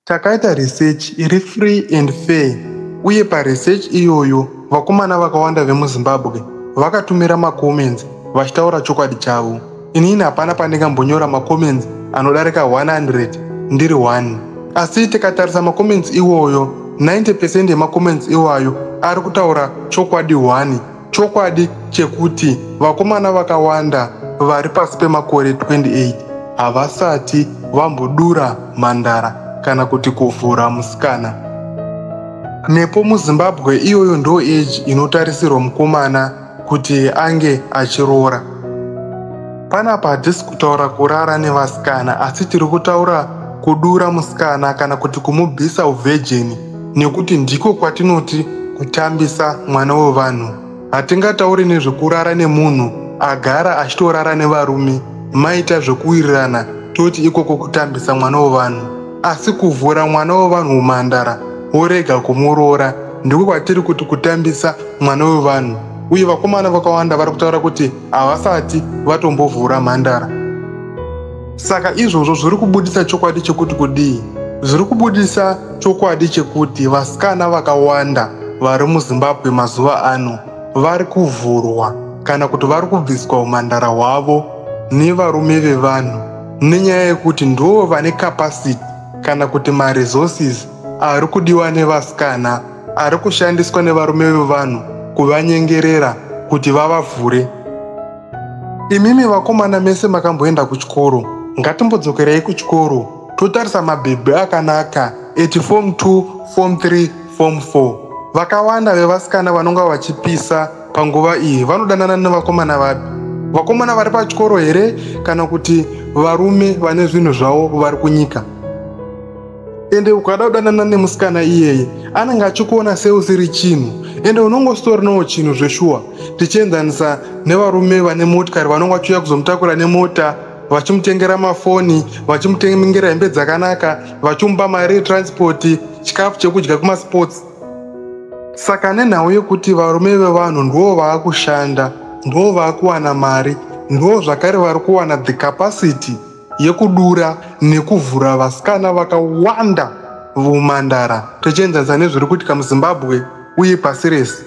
Takaita research iri free and fair uye paresearch iyoyo vakomana vakawanda vemuzimbabwe vakatumira macomments vachitaura chokwadi chavo inini hapana pandingambonyora macomments anodarika 100 ndiri 1 asi tikatarisa macomments iwoyo 90 pecent yemacomments iwayo ari kutaura chokwadi 1 Chokwadi chekuti vakomana vakawanda vari pasi pemakore 28 havasati vambodura mhandara kana kuti kuvhura musikana. Nepo muZimbabwe iyoyo ndo age inotarisirwa mukomana kuti ange achiroora. Panapa hatisi kutaura kurara nevasikana asi tiri kutaura kudura musikana kana kuti kumubvisa uvhejeni. nekuti ndiko kwatinoti kutambisa mwana wevanhu hatingatauri nezvekurara nemunhu agara achitorara nevarume maita zvekuwirirana toti ikoko kutambisa mwana wevanhu asi kuvhura mwana wevanhu umhandara worega kumuroora ndiko kwatiri kuti kutambisa mwana wevanhu uye vakomana vakawanda vari kutaura kuti havasati vatombovhura mhandara saka izvozvo zviri kubudisa chokwadi chekuti kudii zviri kubudisa chokwadi chekuti vasikana vakawanda vari muzimbabwe mazuva ano vari kuvhurwa kana kuti vari kubviswa umhandara hwavo nevarume vevanhu nenyaya yekuti ndivo vane capacity kana kuti maresources ari kudiwa nevasikana ari kushandiswa nevarume vevanhu kuvanyengerera kuti vavavhure Imimi vakomana mese makamboenda kuchikoro, ngatimbodzokerei kuchikoro totarisa mabhebhi akanaka eti form 2, form 3, form 4. Vakawanda vevasikana vanonga vachipisa panguva iyi vanodanana nevakomana vapi? Vakomana vari pachikoro here kana kuti varume vane zvinhu zvavo vari kunyika? ende ukada kudanana nemusikana iyeye anenge achikuona seusiri chinhu ende unonge usitorinawo chinhu zveshuwa tichienzanisa nevarume vane motikari vanonge vachiuya kuzomutakura nemota vachimutengera mafoni vachimutengera hembe dzakanaka vachimupa mari yetranspoti chikafu chekudya kumasports saka nenhau yekuti varume vevanhu ndivo vaakushanda ndivo vaakuwana mari ndivo zvakare vari kuwana the capacity yekudura nekuvhura vasikana vakawanda vomandara tichienzanisa nezviri kuitika muzimbabwe uye pasi rese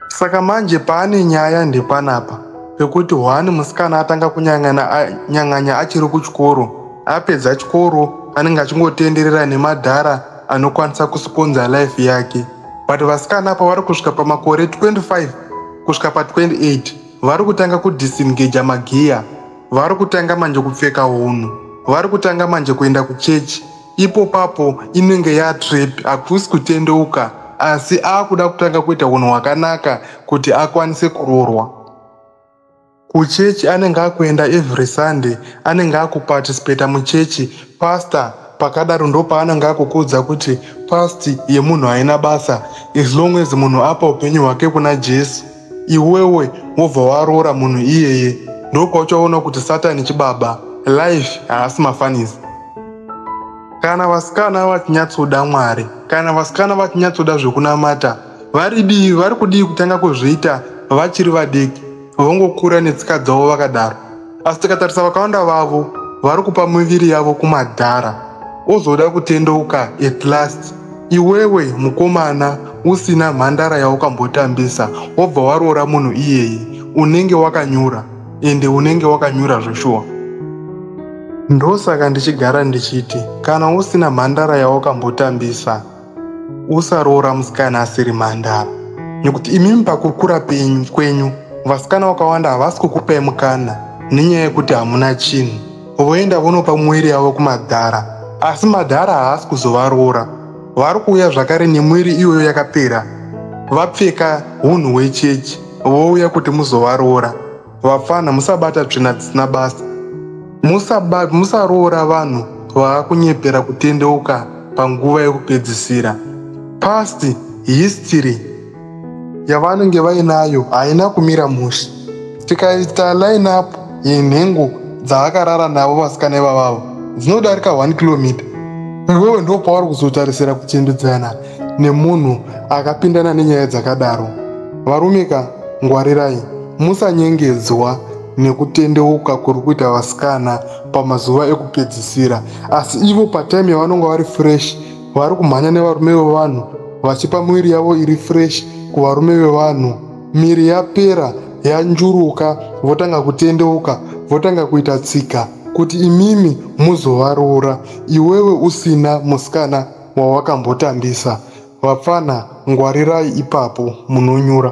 saka manje paane nyaya ndepanapa pekuti hwani musikana atanga kunyang'anya achiri kuchikoro apedza chikoro anenge achingotenderera nemadhara anokwanisa kusiponza life yake but vasikana apa vari kusvika pamakore 25 kusvika pa 28 vari kutanga kudisengaja magiya vari kutanga manje kupfeka hunhu vari kutanga manje kuenda kuchechi ipo papo inenge yatrap hakusi kutendeuka asi akuda kutanga kuita hunhu hwakanaka kuti akwanise kuroorwa kuchechi anenge akuenda every sunday anenge akuparticipata muchechi pastor pakadaro ndopaanenge akukuudza kuti past yemunhu haina basa as long as munhu apa upenyu hwake kuna jesu iwewe wobva waroora munhu iyeye ndopauchaona kuti satani chibaba life haasi mafanisi kana vasikana vachinyatsoda mwari kana vasikana vachinyatsoda zvekunamata vari dii vari kudii kutanga kuzviita vachiri vadiki vongokura netsika dzavo vakadaro asi tikatarisa vakawanda vavo vari kupa miviri yavo kumadhara ozoda kutendeuka at last iwewe mukomana usina mhandara yaukambotambisa wobva waroora munhu iyeyi unenge wakanyura ende unenge wakanyura zveshuwa ndosaka ndichigara ndichiti kana usina mhandara yaukambotambisa usaroora musikana asiri mhandara nekuti imimi pakukura penyu kwenyu vasikana vakawanda havasi kukupai mukana nenyaya yekuti hamuna chinhu voenda vonopa muviri yavo kumadhara asi madhara haasi kuzovaroora vari kuuya zvakare nemwiri iyoyo yakapera vapfeka unhu hwechechi vouya kuti muzovaroora vapfana musabata tsvina dzisina basa musaroora vanhu vaakunyepera kutendeuka panguva yekupedzisira past history yavanenge vainayo haina kumira mushe tikaita line up yenhengo dzaakarara navo vasikana ivavavo dzinodarika 1 kilomita iwewe ndo pauri kuzotarisira kuchendudzana nemunhu akapindana nenyaya dzakadaro varumika ngwarirai Musanyengedzwa nekutendeuka kuri kuita vasikana pamazuva ekupedzisira asi ivo patime yavanonga vari fresh vari kumhanya nevarume vevanhu vachipa mwiri yavo iri fresh kuvarume vevanhu miri yapera yanjuruka votanga kutendeuka votanga kuita tsika kuti imimi muzovaroora iwewe usina musikana wawakambotambisa Vapfana ngwarirai ipapo munonyura.